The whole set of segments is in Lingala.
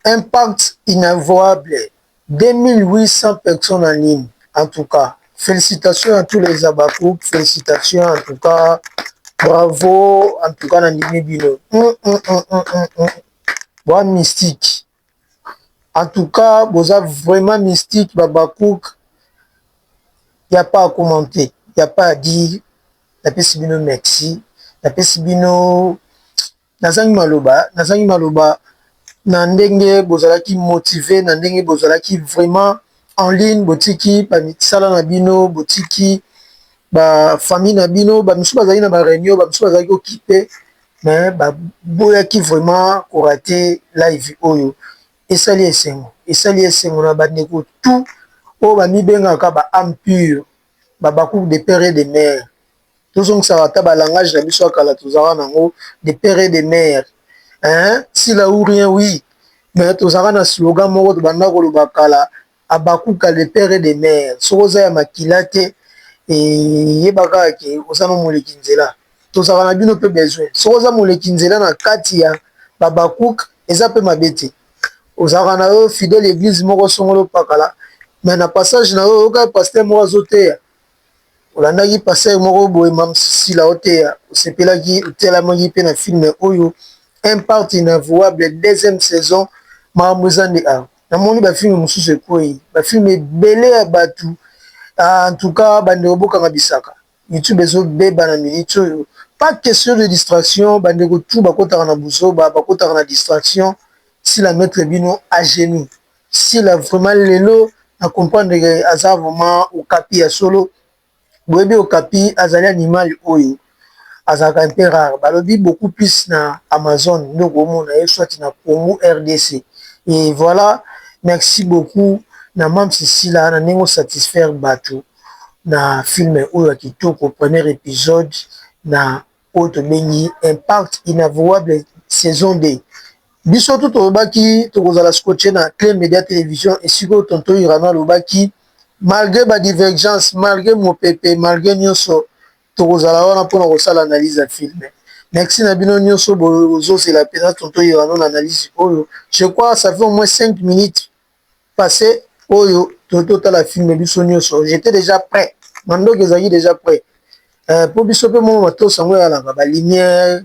Impact inavouable 2800 personnes en ligne en tout cas felicitations à tous les habacucs felicitations en tout cas bravo en tout cas nandimi bino hum, hum, hum, boa mystique en tout cas boza vraiment mystique babacouk il n'y a pas à commenter il n'y a pas à dire napesi bino merci napesi bino Nazangi maloba, nazangi maloba na ndenge bozalaki motive, na ndenge bozalaki vraiment en ligne, botiki ba misala na bino, botiki ba famille na bino, ba misusu bazali na ba reunion, ba misusu bazali ko kipe mais ba boyaki vraiment ko rater live oyo. Esali esengo, esali esengo na ba ndeko tout oyo ba mibengaka ba ame pure, ba Habacuc de père et de mère. tozongisaka ata ba langage na biso ya kala tozalaka na yango de père et de mère eeh sila ou rien oui mais tozalaka na slogan moko tobanda koloba kala habakuka de père et de mère soki oza ya makila te yeba kaka ke oza na moleki nzela tozalaka na bino pe besoin soki oza moleki nzela na kati ya ba habakuc eza pe mabe te ozalaka na yo fidèle eglise moko songolo pakala mais na passage na yo oyoka pasteur moko azoteya Olandaki pasteur moko boye Mam's Sila oteya osepelaki otelamaki pe na film oyo impact inavouable deuxième saison makambo eza nde awa namoni ba film mosusu ekweyi ba film ebele ya batu en tout cas ba ndeko bokanga bisaka YouTube ezo beba na minute oyo pas question de distraction ba ndeko tout bakotaka na buzoba bakotaka na distraction Sila mettre bino à genoux. Sila vraiment lelo na comprendre que aza vraiment okapi ya solo boyebi okapi azali animal oyo azalaka un peu rare balobi beaucoup plus na amazone nde okomona ye soit na congo rdc et voilà merci beaucoup na mam's sila na ndenge osatisfaire batu na film oyo ya kitoko premier episode na oyo tobengi impact inavouable saison 2 biso tout tolobaki tokozala scotche na cle media television esiko tonto irano alobaki malgre ba divergence malgre mopepe malgre nyonso tokozala wana mpona kosala analyse ya filme merci na bino nyonso bozozela mpenza tonto irano na analyse oyo je crois ça fait au moins 5 minutes passe oyo to to tala film biso nioso j'etais dejà pret ma ndoki ezalaki dejà pret euh po biso pe mua matos yango eyalaka ba lumière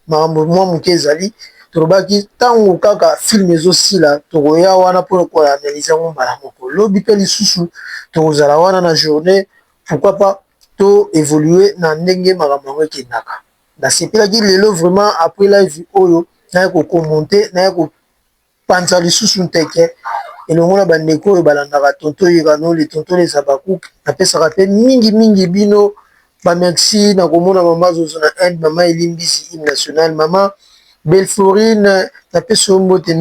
makambo mua muke ezali tolobaki tangu kaka film ezo sila tokoya wana po ko analyser yango mbala moko lobi pe lisusu tokozala wana na journee pourquoi pas to evoluer na ndenge makambo yango ekendaka nasepelaki lelo vraiment après live oyo naye ko commenter naye ko Panza lisusu nteke elongo na bandeko oyo balandaka Tonton Yirano, le Tonton des Habacucs. Napesaka mpe mingi mingi bino ba merci na komona mama Zozo na Inde, mama Elimbisi hymne national, mama Belforine napesi yo mbote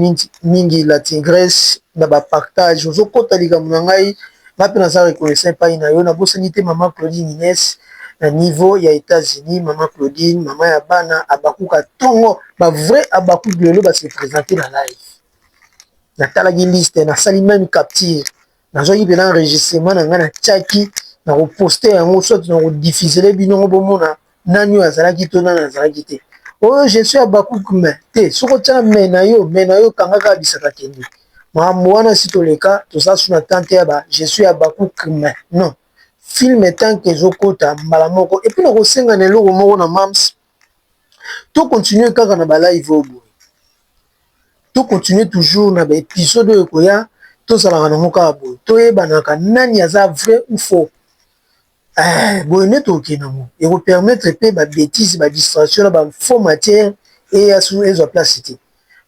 mingi, la Tigresse na ba partage ozokota likambo na ngai. Nga pe naza reconnaissant epayi na yo, na bosani te maman Claudine Ines na niveau ya Etats Unis, maman Claudine, maman ya bana, Habacuc ya tongo, ba vrais Habacuc lelo ba se presenter na live, na talaki liste, na sali meme capture, na zwaki penza enregistrement na nga na tiaki, na ko poster yango soit na ko diffuser bino moko bo mona Nani oyo azalaki to nani azalaki te? Oyo je suis Habacuc mais te soki otia mais na yo mais na yo kanga kaka bisaka kende makambo wana si toleka toza su na tante ya ba je suis Habacuc mais non film tant que ezokota mbala moko epuis nakosenga na eloko moko na mams to continue kaka na ba live oyo boye to continue toujours na ba episode oyo ekoya tozalaka nango kaka boye toyebanaka nani aza vrai ou faux Eeh boye nde tokokende nango. Eko permettre pe ba betises, ba distractions na ba faux matières eya su ezwa place te.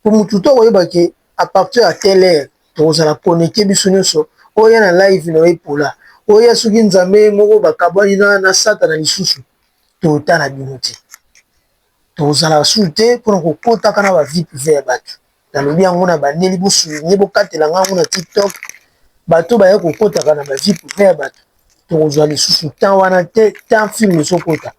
Po mutu tout akoyeba ke à partir ya telle heure tokozala connectes biso nionso, oya na live na yo epola, oya soki nzambe ye moko bakabwani na satana lisusu totala bino te. Tozalaka sur te mpo na kokotaka na ba vie privee ya batu. Nalobi yango na bandeli bo souligner bokatela ngai yango na tiktok. Bato baye kokotaka na ba vie privee ya batu tokozwa lisusu temps wana te tant film ezokota.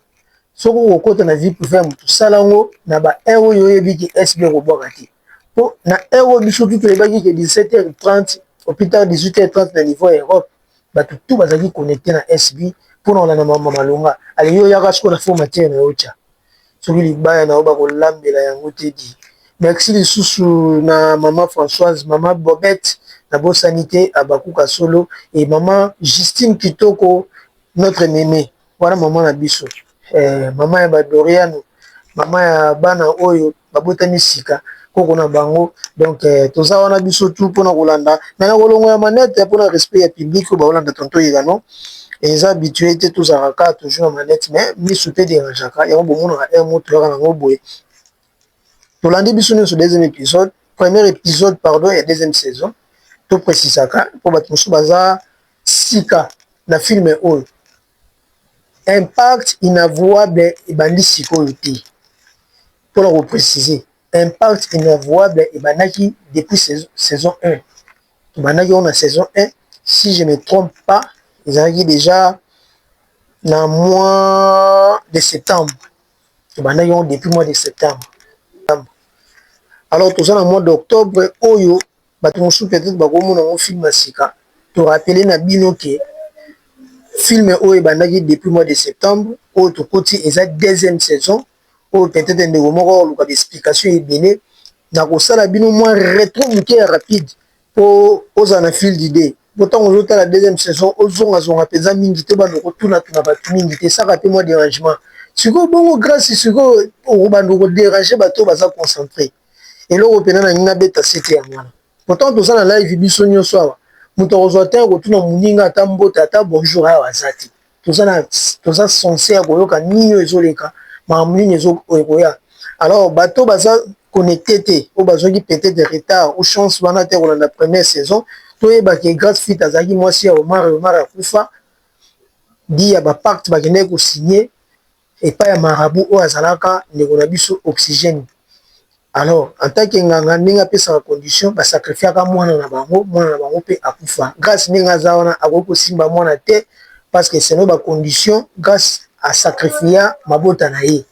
Soki okokota na vie privee ya motu sala yango na ba heure oyo oyebi ke SB ekobwaka te. Mpo na heure oyo biso tout toyebaki ke 17h30 au plus tard 18h30 na niveau ya Europe. batu tout bazalaki connecte na SB pona kolanda makambo ya malonga ale yo yaka sikoyo na faux matière nayo otia soki libaya nayo bakolambela yango te di merci lisusu na mama Françoise mama Bobette na bosani te Habacuc ya solo et mama Justine Kitoko notre meme Wana maman na biso eh, maman ya ba Doriano, maman ya bana oyo babotami sika koko na bango donc eh, toza wana biso tout pona kolanda mais na kolongo ya manette pona respect ya public oyo baolanda tonto yegano eza habitué te tozalaka kaka toujours na manette mais misu mpe derangeaka yango bomonaka un mot toyaka nango boye tolandi biso nyonso deuxième épisode premier épisode pardon ya deuxième saison toprécisaka mpo bato mosusu baza Sika na film oyo impact inavouable ebandi sikoyo te pona ko precise impact inavouable ebandaki depuis saison un tobandaki yango na saison un si je ne trompe pas ezalaki dejà na mois de septembre tobandaki yango depuis mois de septembre alors toza na mois d'octobre oyo Batu mosusu peut etre bako mona ngo film ya sika, to rappeler na bino que film oyo ebandaki depuis mois de septembre, oyo tokoti eza deuxième saison, oyo peut etre ndeko moko ako luka ba explications ebele, nako sala bino mua retro mukie ya rapide po ozala na fil d'idee, po tangu ozo tala deuxième saison ozonga zonga penza mingi te, obanda ko tuna tuna batu mingi te, esaka pe mua derangement, sikoyo bongo Grace sikoyo obanda ko deranger batu oyo baza concentre? eloko mpena nalingi nabeta sete yango wana pourtant toza na live biso nyonso awa moto akozwa te akotuna moninga ata mbote ata bonjour awa aza te toza na toza sense ya koyoka nini oyo ezoleka makambo nini ekoya alors bato baza connecte te oyo bazwaki peut-être de retard ou chance wana te kolanda première saison toyeba ke grace fit azalaki mwasi ya omar omar akufa di ya bapacte bakendaki kosigne epai ya marabout oyo azalaka ndeko na biso oxygène alors en tant que nganga ndenge apesaka condition ba sacrifiaka mwana na bango mwana na bango pe akufa grace ndenge aza wana akoki kosimba mwana te parce que selon ba condition grace a sacrifia mabota na ye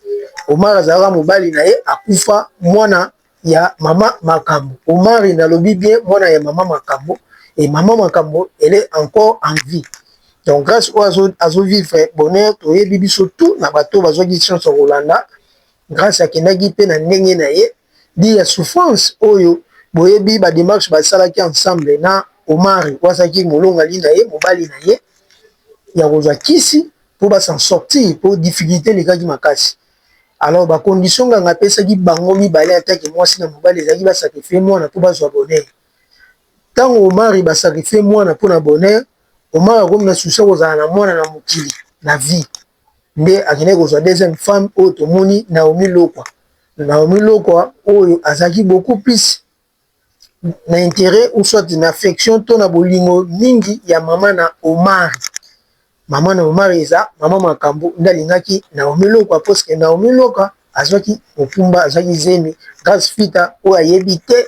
omar azalaka mobali na ye akufa mwana ya mama makambo omari nalobi bien mwana ya mama makambo et mama makambo elle est encore en vie donc grâce oyo azo vivre bonheur toyebi biso tout na bato bazwaki chance ya kolanda grâce akendaki mpe na ndenge na ye di ya souffrance oyo boyebi ba démarche basalaki ensemble na omari oyo azalaki molongali na ye mobali na ye ya kozwa kisi mpo ba s'en sortir mpo difficulté elekaki makasi Alors ba conditions nganga apesaki bango mibale en tant que muasi na mobali ezalaki ba sacrifier muana po bazua bonheur. Tango Omari ba sacrifier muana pona bonheur, Omari akomi na souci ya kozala na muana na mokili na vie. Nde akendaki kozua deuxième femme oyo tomoni Naomi Lokwa. Naomi Lokwa oyo azalaki beaucoup plus na interet ou soit na affection to na bolingo mingi ya mama na Omari. Mama na Omari eza mama Makambo nde alingaki Naomi Lokwa parce que Naomi Lokwa azwaki mokumba azwaki zemi Grace Fita oyo ayebi te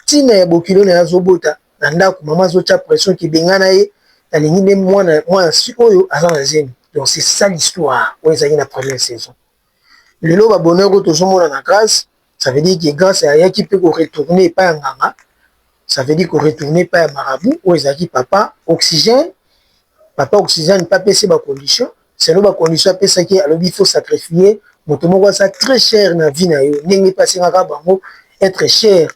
ntina ya bokilo na ye azobota na ndako mama azotya pression kibengana ye nalingi nde mwana mwana si oyo aza na zemi donc c'est ça l'histoire oyo ezalaki na première saison lelo ba bonheur oyo tozomona na Grace ça veut dire que Grace ayaki mpe ko retourner epai ya nganga, ça veut dire ko retourner epai ya marabout oyo ezalaki papa Oxygène, papa Oxygène mpe apesi ye ba conditions, selon ba conditions apesaki ye alobi il faut sacrifier moto moko aza très cher na vie na yo ndenge mpe asengaka bango etre cher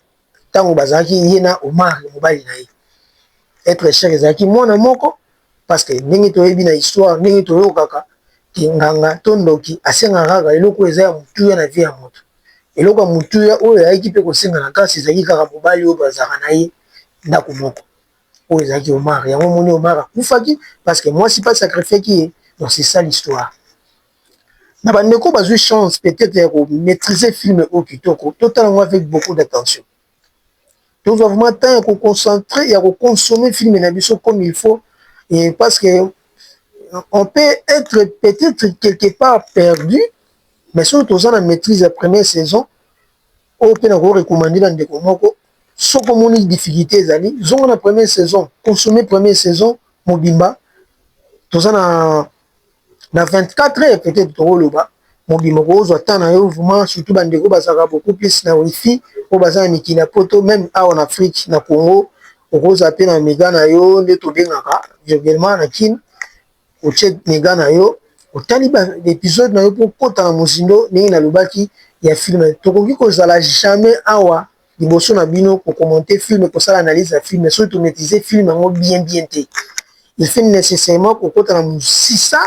tango bazalaki ye na Omar mobali na ye etre cher ezalaki mwana moko parce que ndenge toyebi na histoire ndenge toyokaka ke nganga to ndoki asengaka kaka eloko oyo eza ya motuya na vie ya moto eloko ya motuya oyo ayaki mpe kosenga na kasi ezalaki kaka mobali oyo bazalaka na ye ndako moko oyo ezalaki Omar yango omoni Omar akufaki parce que mwasi mpe asacrifiaki ye donc c'est ça l'histoire na ba ndeko bazui chance peut etre ya ko maitriser film oyo kitoko to tala yango avec beaucoup d'attention tozua vraiment temps ya ko concentrer ya ko consommer film na biso comme il faut et parce que on peut etre peut etre quelque part perdu mais soki toza na maitrise ya première saison oyo mpe na ko recommander na ndeko moko soki omoni difficulté ezali zonga na première saison consommer première saison mobimba toza na na 24 heures peut-être tokoloba mobimba okozwa temps na yo vraiment surtout bandeko bazalaka beaucoup plus na wifi oyo baza na mikili ya poto meme awa na afrique na congo okozala mpe na mega na yo nde tobengaka virguellement na kine otie mega na yo otali baepisode na yo mpo okota na mozindo ndenge nalobaki ya filme tokoki kozala jamais awa liboso na bino ko commenter film kosala analyse ya film soki to maitrise film yango bien bien te il faut necessairement kokota na mosisa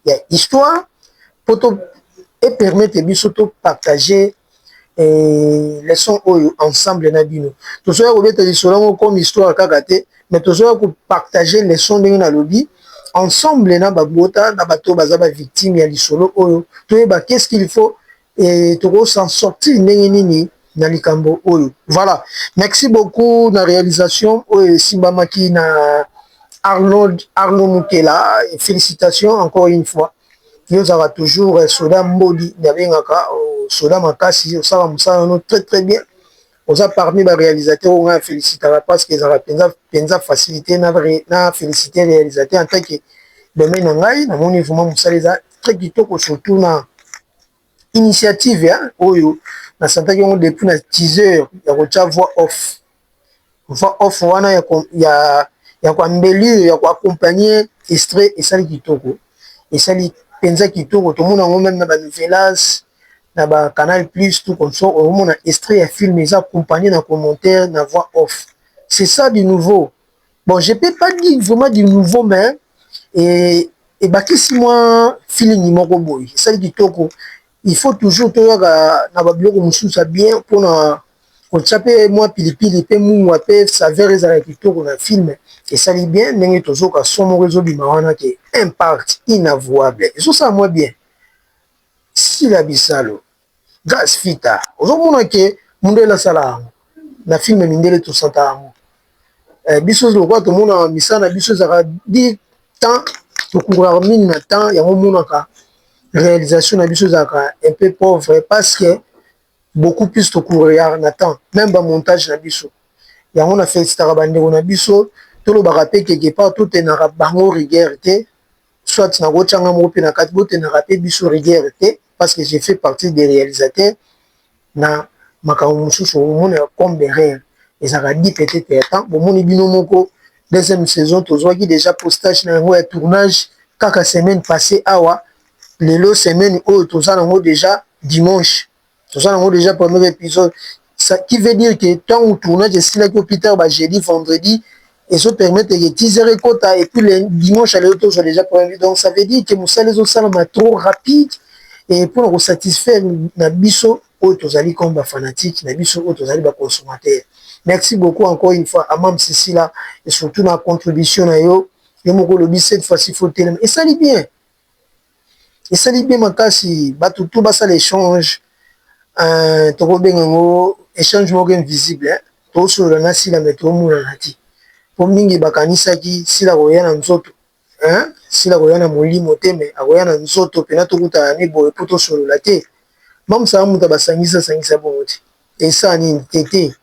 ya histoire mpo to e permettre biso to partager eh, leçon oyo ensemble na bino tozoya kobeta lisolo yango comme histoire kaka te mais tozoya kopartage leçon ndenge nalobi ensemble na babota na bato baza bavictime ya lisolo oyo toyeba qu'est ce qu'il faut et toko s'en sortir ndenge nini na likambo oyo voilà merci beaucoup na realisation oyo esimbamaki na Arnold Arnaud Mukela félicitations encore une fois yo ozalaka toujours euh, soda mbodi nabengaka euh, soda makasi osala mosala no très très bien oza parmi ba réalisateur oyo ngai afélicitaka parce que ezalaka mpenza mpenza facilité na, na félicité réalisateur en tant que domaine na ngai namoni vraiment mosala eza très kitoko surtout na initiative ya oyo na santaki yango depuis na 10 heures ya kotya voix off voix off wana ya koambelire ya koaccompagne estre esali kitoko esali mpenza kitoko tomona yango meme na banivelas na ba canal plus to conso omona estre ya filme eza accompagne na commentaire na voix off ce ça du nouveau Bon, je peux pas dire vraiment du nouveau, mais et, ebakisi mwa feeling moko boye esali kitoko il faut toujours toyaka na babiloko mosusu ya bien mpona kotya mpe mwa pilipili mpe mungwa mpe saveur ezala kitoko na film esali bien ndenge tozoka so moko ezobima wana ke impact inavouable ezosala mwa bien sila bisalu Grace fita ozo mona ke mundele asala yango na film mindele tosata yango eh, biso lokola tomona misala na biso ezaka di temps tokuraka mingi na temps yango omonaka réalisation na biso ezalaka un peu pauvre parce que beaucoup plus tokuraka na temps même ba montage na biso yango na felicitaka bandeko na biso tolobaka mpe quelque part totenaka bango rigueur te soit nakotia nga moko mpe na kati botendaka mpe biso rigueur te parce que je fais partie des realisateurs na makambo mosusu omona comme des rêves ezalaka dit peut-être ya temps bomoni bino moko deuxième saison tozwaki déjà postage na yango ya tournage kaka semaine passée awa lelo semaine oyo toza nango déjà dimanche toza nango déjà premier épisode ça qui veut dire que ntango tournage esilaki au plus tard ba jeudi vendredi ezo permettre que teaser ekota et puis le dimanche ya lelo tozwa déjà premier donc ça veut dire que mosala ezosalama trop rapide et mpo na kosatisfaire na biso oyo tozali comme ba fanatique na biso oyo tozali ba consommateur merci beaucoup encore une fois amam sisila et surtout na contribution na yo yo moko olobi cette fois-ci faut telema esali bien Esali bien makasi batu tout basala echange tokobenga yango echange moko invisible tosolola na sila mais tomonana te po mingi bakanisaki sila akoya na nzoto sila akoya na molimo te mais akoya na nzoto pena tokutana ne boye po tosolola te mamsa mutu abasangisi asangisa bongo te esa nini tete.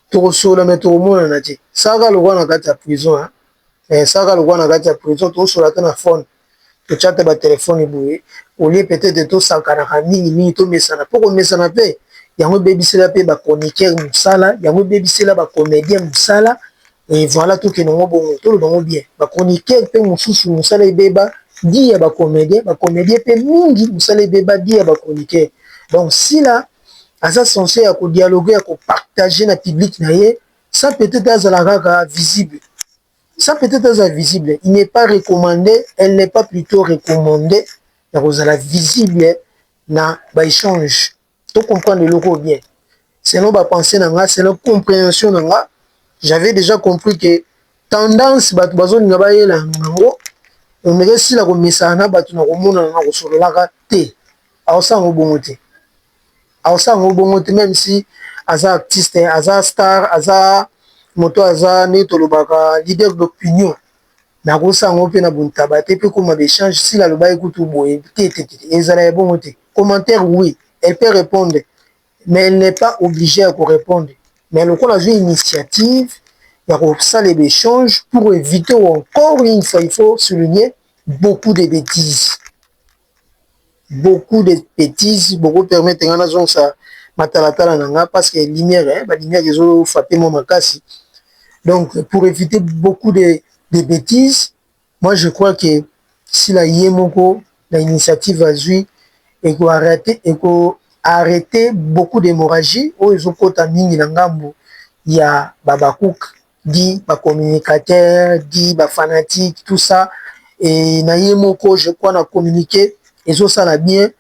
tokosolola mais tokomonana te saka lokola na kati ya prison hein eh, saka lokola na kati ya prison tokosolola te na phone tochate ba telefone boye olie peut-être tosakanaka mingi mingi tomesana mpo komesana mpe yango ebebisela mpe ba chroniqueur mosala yango ebebisela ba comédien mosala et voilà tokende yango bongo toloba yango bien ba chroniqueur mpe mosusu mosala ebeba di ya ba comédien ba comédien mpe mingi mosala ebeba di ya ba chroniqueur donc sila aza sense ya ko dialoguer ya ko partager na public na ye sans peut etre azala kaka visible sans peut etre azala visible il n'est pas recommande elle n'est pas plutot recommande ya kozala visible na ba echange to comprendre eloko bien selon ba pensee na nga selon comprehension na nga j'avais déjà compris que tendance bato bazolinga bayela yango omeka esila komesana na bato na komonana na kosololaka te Akosala ngo bongo te. Akosala ngo bongo te meme si aza artiste, aza star, aza moto aza nde tolobaka leader d'opinion. Mais akosala ngo pe na bontaba te pe koma be change sila alobaki kutu boye te te te. Ezala ya bongo te. Commentaire oui, elle peut répondre mais elle n'est pas obligée ya ko répondre. Mais lokola azui initiative ya kosala be change pour eviter encore une fois il faut souligner beaucoup de betises. beaucoup de betises boko permettre nga nazongisa matalatala na nga parce que lumière ba lumière ezo frapper nga makasi donc pour eviter beaucoup de betises moi je crois que Sila ye moko na initiative azwi eko arreter beaucoup d'hemorragie oyo ezokota mingi na ngambu ya ba Habacuc dit ba communicateurs dit ba fanatiques tout ça et na ye moko je crois na communique ezosala bien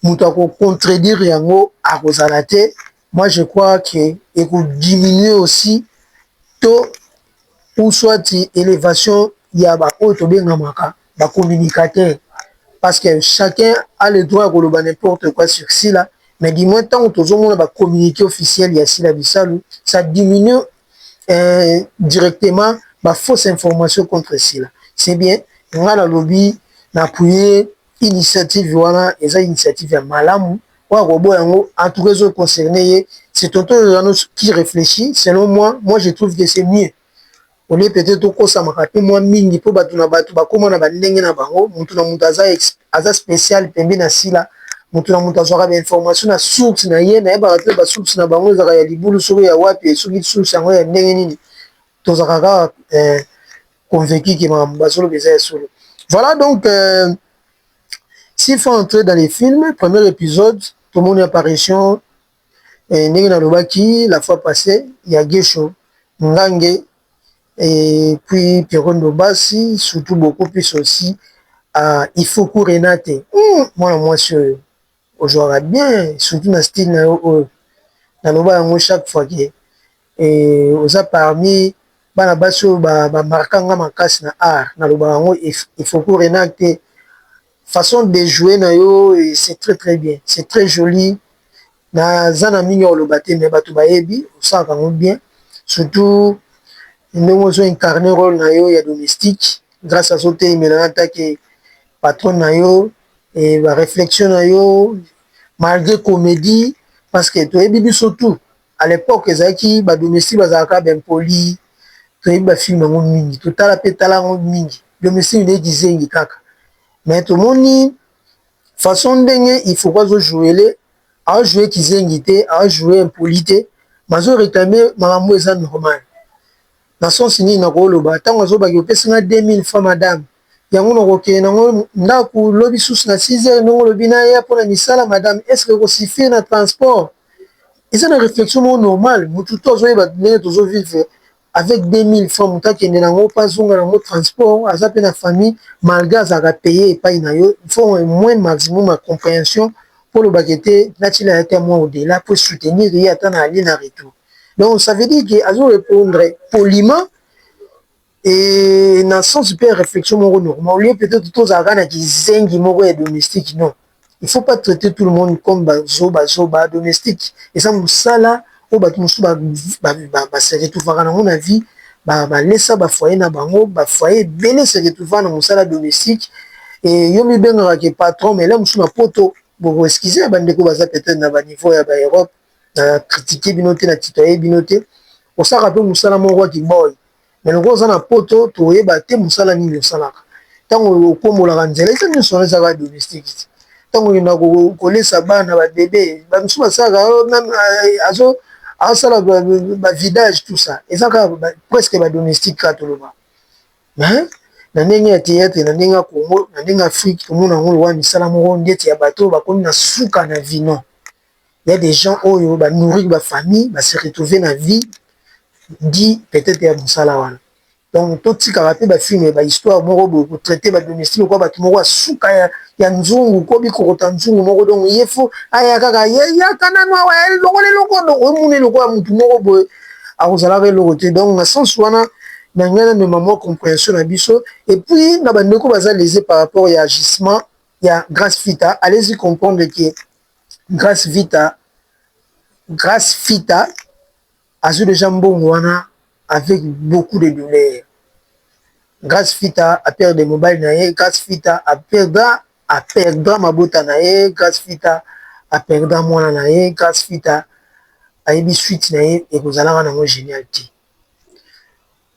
moto ya ko contredire yango akozala te moi je crois que ekodiminue aussi to ou soit élévation ya baoyo tobengamaka ba communicateur parce que chacun a le droit ya koloba n'importe quoi sur sila mais du moins ntango tozomona ba communique officiel ya sila bisalu ça diminue euh directement ba fausse information contre Sila c'est bien nga na lobi na appuie initiative wana eza initiative ya malamu oyo akoboya yango en tout cas ezo concerner ye c'est tonton Jeannot qui reflechit selon moi moi je trouve que c'est mieux au lieu peut-être tokosamaka pe mwa mingi po batu na batu bakoma na ba ndenge na bango mutu na mutu aza aza special pembe na sila mutu na mutu azwaka ba information na source na ye nayebaka te ba source na bango ezalaka ya libulu soko ya wapi soki source yango ya ndenge nini tozalaka kaka eh, convaincu ke makambo bazoloba eza ya solo voilà donc euh, s'il faut entrer dans les films premier épisode tomoni apparition eh, ndenge nalobaki la fois passée ya gesho ngange Et puis Pierrot Ndobasi surtout beaucoup plus aussi uh, Ifuku Renate mm, mwana mwasi oyo ojwaka bien surtout na style na yo oyo naloba yango chaque fois ke eh, oza parmi bana basi oyo bamarka ba nga makasi na art nalobaka yango Ifuku Renate Façon de jouer na yo c'est très très bien c'est très jolie na za na mingi ya koloba te mais batu bayebi osalaka yango bien surtout ndenge ozo incarner role na yo ya domestique grâce azo telemela na take patronne na yo et ba reflexion na yo malgré comedie parce que toyebi biso tout à l'epoque ezalaki ba domestique bazalaka ba impoli toyebi ba film yango mingi totala mpe tala yango mingi domestique nde kizengi kaka mais tomoni façon ndenge ifoko azo jouele azo joue kizengi te azo joue impoli te mazo réclame makambo eza normal na sens nini nakoloba ntango azobaki opesi nga 2000 francs madame yango na kokende nango ndaku lobi susu na 6 heures ndenge olobi naya pona misala madame est ce que eko suffire na transport eza na reflexion moko normale mutu tout azo yeba ndenge tozo vivre avec 2000 francs mutu akende nango pe azonga nango transport aza pe na famille malgre azalaka paye epayi nayo il faut au moin maximum ya comprehension po oloba ke te natiela ye ata mua au dela po e soutenir ye ata na aller na retour donc ça veut dire que azo repondre poliment Et na sens pe réflexion moko normal, lieu peut-être tozalaka na kizengi moko ya domestique, non il faut pas traiter tout le monde comme ba zoba zoba, domestique eza musala oyo batu mususu ba se retrouvaka nango na vie, ba laissa ba foyer na bango, ba foyer ebele se retrouva na musala domestique et yo omibengaka que patron mais lelo mususu na poto bo ko excuser ba ndeko baza peut-etre na ba niveau ya ba Europe, na critiquer bino te, na tutoyer bino te, osalaka pe musala moko ya ki boy mais lokola oza na poto toyeba te mosala nini osalaka ntango okombolaka nzela eza nyonso wana ezaka domestique ti ntango okenda kolesa bana babebe bamisu basalaka azo asala bavidage tout ça eza kaka presque badomestique kaka toloba mais na ndenge ya théâtre na ndenge ya congo na ndenge ya afrique tomona yango lowa misala moko ndeti ya bato bakomi na suka na vino il ya des gens oyo ba nourrir ba famille ba se retrouver na vie dit peut-etre ya mosala wana donc totikaka mpe ba filme ba histoire moko boye ko traite ba domestique lokola bato moko ya suka ya nzungu ko bikokota nzungu moko donc ye fo aya kaka yaka nanu awa longola eloko omona ye lokola motu moko boye akozalaka eloko te donc na sens wana na ngai namema mwa comprehension na biso et puis na bandeko baza lese par rapport ya agissement ya grace fita alesi comprendre ke Grace Vita, Grace Fita azwi deja mbongo wana avec beaucoup de douleur. Grace Fita a perdre mobali na ye, Grace Fita a perdra a perdra mabota na ye, Grace Fita a perdra mwana na ye, Grace Fita ayebi suite na ye ekozalaka nango genial te.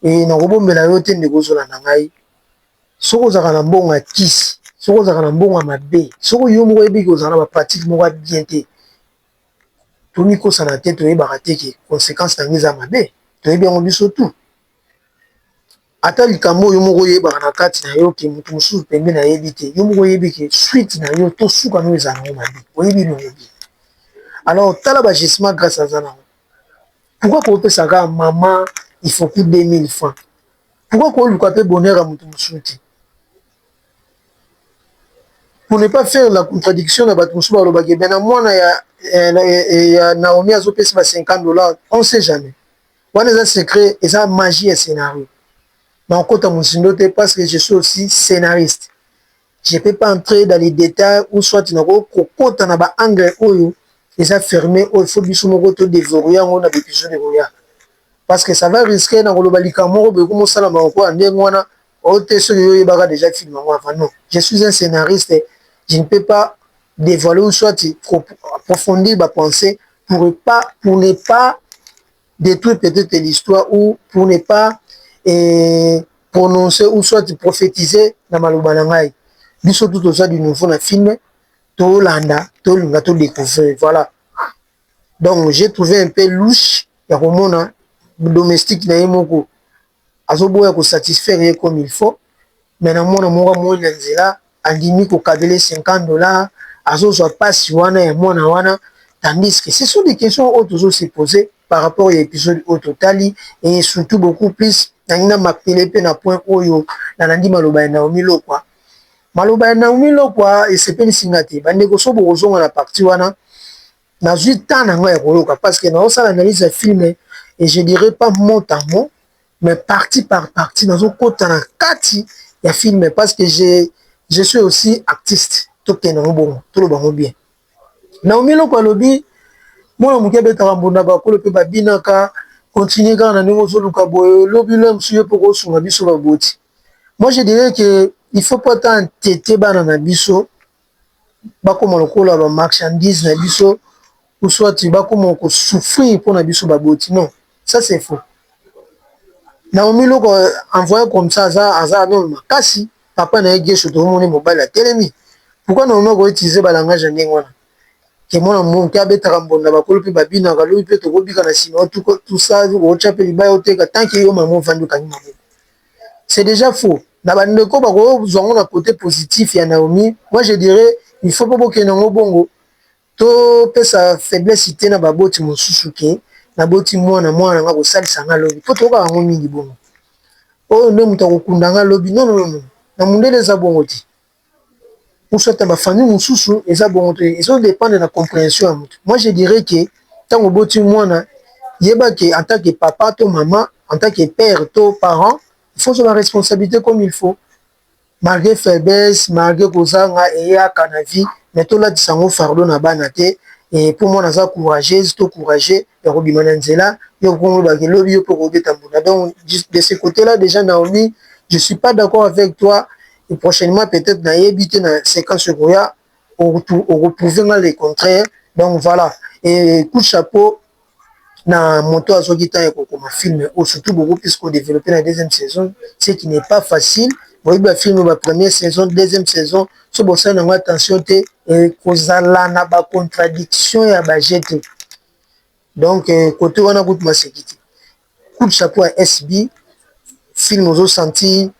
Ee, nakobombela yo te, ndeko, ozolanda ngai. Soki ozalaka na mbongo ya kisi, soki ozalaka na mbongo ya mabe, soki yo moko oyebi ke ozalaka na bapratike moko ya bien te, tomikosana te, toyebaka te ke consequence na yango eza mabe, toyebi yango biso tout. Ata likambo oyo yo moko oyebaka na kati na yo ke moto mosusu pembeni ayebi te, yo moko oyebi ke suite na yo to suka na yo ezalaka na yango mabe, oyebi elongo bien. Alors, tala ba-agissement Grace aza na yango. Pourquoi kopesa kaka maman Ifoku 2000 francs? Pourquoi koluka pe bonheur ya mutu mususu te? Pour ne pas faire la contradiction na batu mususu balobaka eh bien na mwana ya ya Naomi azopesa ba 50 dollars, on sait jamais. Wana eza secret, eza magie ya scenario. Nakokota mozindo te parce que je suis aussi scenariste. Je peux pas entrer dans les details ou soit na ko kokota na ba angles oyo eza ferme oyo faut biso moko to deverrouiller yango na ba episode ekoya parce que ça va risquer na koloba likambo moko boye ekomi osala ma lokola ndenge wana oyo te soki yo oyebaka déjà film yango avant non je suis un scénariste je ne peux pas dévoiler ou soit approfondir ba pensée pour pas pour ne pas detruire peut-etre l'histoire ou pour ne pas eh, prononcer ou soit prophetiser na maloba na ngai biso tout oza du nouveau na film tolanda tolinga todécouvrir voilà donc j'ai trouvé un peu louche ya komona domestique na ye moko azoboya ko satisfaire ye comme il faut mais na mwana moko amoni na nzela andimi ko kabela ye 50 dollars azozwa pasi wana ya mwana wana tandis que ce sont des questions oyo tozo se poser par rapport ya episode oyo totali et surtout beaucoup plus nalingi na martele mpe na point oyo nalandi maloba ya Naomi Lokwa maloba ya Naomi Lokwa esepelisi nga te bandeko so bokozonga na partie wana nazwi temps na ngai ya koyoka parce que naosala analyse ya film et je dirais pas mot à mot mais partie par partie nazokota na kati ya film parce que je, je suis aussi artiste tokende yango bongo toloba yango bien naomi eloko alobi mwana moke abetaka mbunda bakolo mpe babinaka continue kaka na ndenge ozoluka boye lobi lo mosusu yo mpo kosunga biso baboti moi je dirais que il faut pas ta entete bana na biso bakoma lokola ba marchandise na biso ou soit bakoma ko souffrir pona biso ba boti non ça c'est faux Naomi loko envoye comme ça aza aza nanu makasi papa na ye Guesho tomoni mobali atelemi pourquoi Naomi ako utiliser ba langage ya ndenge wana que mwana muke abetaka mbonda bakolo pe babinaka lobi pe tokobika na sima tout ça otya pe libaya oteka tant que yo mama ovandi okangi maboko c'est dejà faux na ba ndeko ba ko zua ngo na cote positif ya Naomi moi je dirais il faut pe bo kende ngo bongo to pesa faiblesse te na ba boti mosusu ke na boti mwana mwana nga ko salisa nga lobi po to yokaka ngo mingi bongo oyo nde moto ako kunda nga lobi non non non na mundele eza bongo te ou soit na ba famille mususu eza bongo te ezo dependre na comprehension ya mutu moi je dirais que tango oboti mwana yeba que en tant que papa to maman en tant que père to parent il faut ozwa ba responsabilite comme il faut malgre faiblesse malgre kozanga eyaka na vie mais tolatisa yango fardeau na bana te et po mwana aza courageuse to courageux ya kobima na nzela yo moko olobaka lobi yo mpe okobeta mbunda donc de ce cote là dejà Naomie je suis pas d'accord avec toi et prochainement peut-être na yebi te na sequence ekoya oko prouver nga le contraire donc voilà et coup de chapeau na moto azoki temps ya kokoma film oyo surtout bobo plus ko développer na deuxième saison ce qui n'est pas facile boyebi ba film ba première saison deuxième saison so bosali nango attention te ekozala na ba contradiction ya ba jeu te donc kote wana kutu maseki te Coup de chapeau à SB film ozo sentir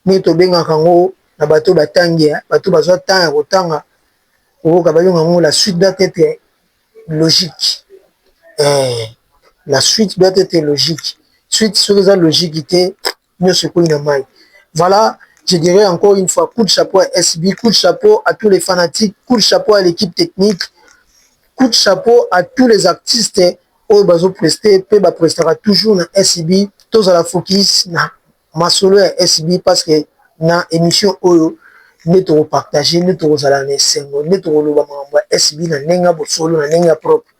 neti tobengaka yango na bato ba tangi bato bazwa temps ya kotanga okoyoka babenga yango la suite doit etre logique la suite doit etre logique suite soki eza logique te. nioso ekweyi na mayi voila je dirai encore une fois coup de chapeau à SB coup de chapeau à tous les fanatiques coup de chapeau à l'equipe technique coup de chapeau à tous les artistes oyo bazo prester pe ba prestaka toujours na SB tozala focus na masolo ya SB parce que na emission oyo nde toko partager nde tokozala na esengo nde tokoloba makambo ya SB na ndenge ya bosolo na ndenge ya propre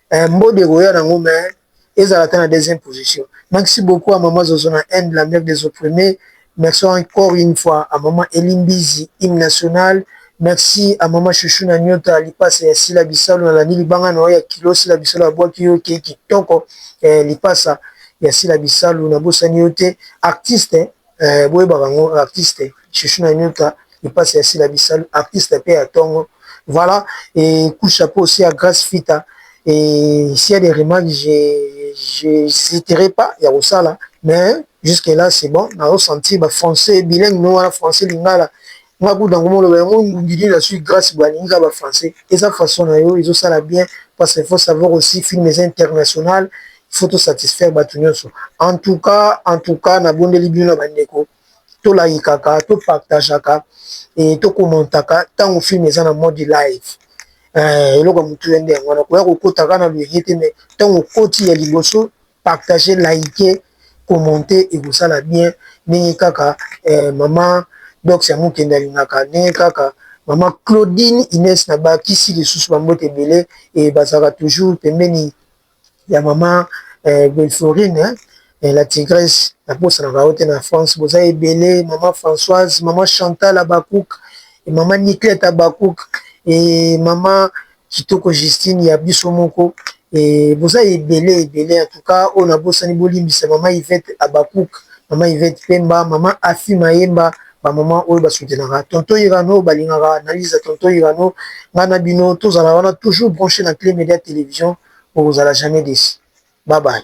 Eh mbodi ekoya nango mais ezala ata na deuxième position maxi beaucoup à maman zozo na haine la mère des opprimes merci encore une fois à maman Elie mbizi hymne national merci à maman chouchou na nyota lipasa ya sila bisalu na landi libanga na yo ya kilo sila bisalu abwaki yo ke kitoko eh, lipasa ya sila bisalu na bosani yo te artiste Eeh boyebaka yango artiste chouchou na nyuta lipasa ya sila bisalu artiste pe ya tongo voilà eeh coup chapeau aussi à grace fita eeh s'il ya des remarques j'hesiterai pas ya kosala mais jusque là c'est bon nazo sentir ba français bilingue no wana français lingala Nga kutu nako moloba yango ngungi nini na suki grace boye alingi kaka ba français eza façon na yo ezo sala bien parce il faut savoir aussi film eza international il faut to satisfaire batu nionso en tout cas en tout cas na bondeli bino na ba ndeko to layikaka to partageaka et to commentaka tango film eza na mode live eh, eloko ya motuya nde yango wana koya kokota kaka na loyenge te mais ntango okoti ya liboso Partager liker commenter ekosala bien ndenge kaka maman dox ya mukende alingaka ndenge kaka maman Claudine Ines na ba kisi lisusu ba mbote ebele et bazalaka toujours pembeni ya maman Belforine la tigresse na bosanaka yo te na France boza ebele maman Françoise maman Chantal Habacuc et maman Niclette Habacuc et maman Kitoko Justine ya biso moko eeh boza ebele ebele en tout cas oyo na bosani bolimbisa maman Yvette Habacuc, maman Yvette Pemba, maman Afy Mayemba ba maman oyo ba soutenaka tonton Irano balingaka analyse ya tonton Irano nga na bino tozala wana toujours branche na Cle Media Television bokozala jamais deci bye bye.